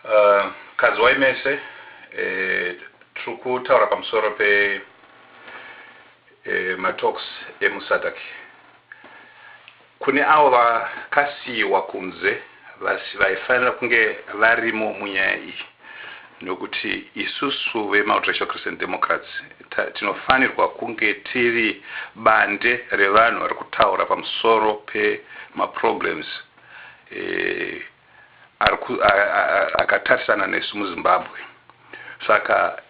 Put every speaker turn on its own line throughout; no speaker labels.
Uh, kadziwai mese eh, tiri kutaura pamusoro pe eh, matalks emusadak kune avo vakasiyiwa kunze vaifanira kunge varimo munyaya iyi nokuti isusu vemultiracial christian democrats tinofanirwa kunge tiri bande revanhu vari kutaura pamusoro pemaproblems akatarisana nesu muzimbabwe saka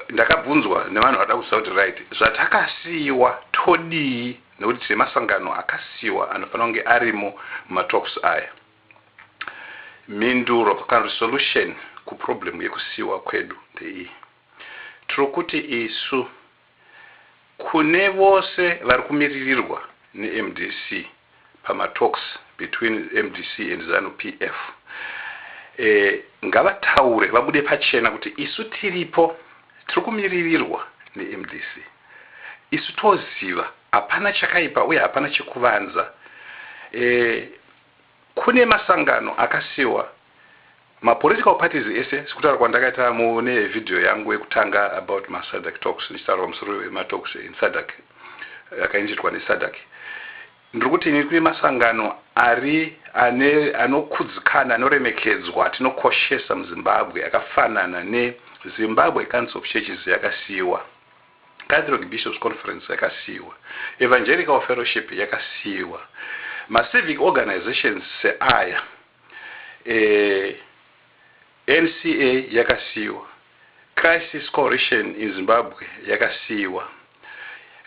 ndakabvunzwa nevanhu vada kuziva kuti right zvatakasiyiwa todii nekuti tine masangano akasiyiwa anofanira kunge arimo mumatalks aya mhinduro kana kuti solution kuproblem yekusiyiwa kwedu ndeiyi tiri kuti isu Kune vose vari kumiririrwa neMDC pama talks between mdc and Zanu PF eh, ngavataure vabude pachena kuti isu tiripo tiri kumiririrwa neMDC isu toziva hapana chakaipa uye hapana chekuvanza eh, Kune masangano akasiwa ma political parties ese sekutaura kwandakaita mune video yangu yekutanga about ma sadc talks ndichitaura pamusoro pema talks in sadc akainzitwa ne sadc. Ndiri kuti ini kune masangano ari ane anokudzikana anoremekedzwa atinokoshesa muZimbabwe akafanana ne Zimbabwe Council of Churches yakasiiwa. Catholic Bishops Conference yakasiiwa, Evangelical Fellowship yakasiiwa, macivic organisations seaya eNCA yakasiiwa, Crisis Coalition in Zimbabwe yakasiiwa,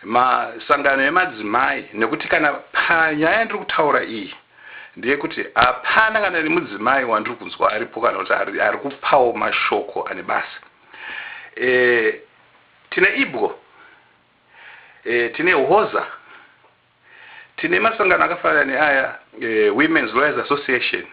masangano emadzimai nekuti kana panyaya yandiri kutaura iyi ndeyekuti hapana kana nemudzimai wandiri kunzwa aripo kana kuti ari kupawo mashoko ane basa. Tine ibwo, e, tine hoza, tine masangano akafanana neaya e, Women's Lawyers Association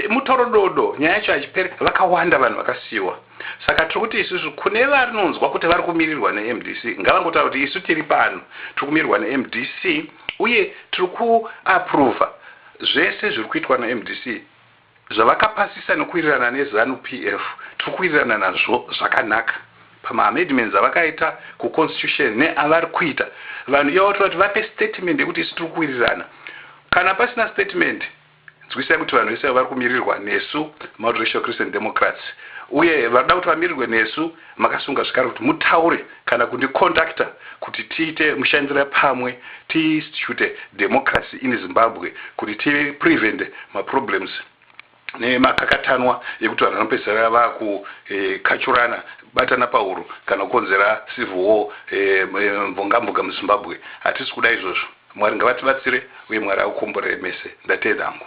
mutorododo nyaya yacho hachipere vakawanda vanhu vakasiyiwa saka tiri kuti isusu kune varinonzwa kuti vari kumirirwa nemdc ngavangotaura kuti isu tiri pano tiri kumirirwa nemdc uye tiri kuaprova zvese zviri kuitwa nemdc Zvavakapasisa nekuwirirana neZanu PF tiri kuwirirana nazvo zvakanaka pamaamedments avakaita kuConstitution neavari kuita. Vanhu ivavo tinoda kuti vape statement yekuti isu tiri kuwirirana. Kana pasina statement, nzwisisai kuti vanhu vese vari kumirirwa nesu Multiracial Christian Democrats uye vanoda kuti vamirirwe nesu Makasunga zvekare kuti mutaure kana kundicontactor kuti tiite mushandira pamwe tiinstitute democracy in Zimbabwe kuti tiprevente maproblems nemakakatanwa ekuti vanhu vanopedzisira vakukachurana eh, batana pahuro kana kukonzera civil war eh, mvongamboga muzimbabwe hatisi kuda izvozvo mwari ngavatibatsire uye mwari akukomborere mese ndateedangu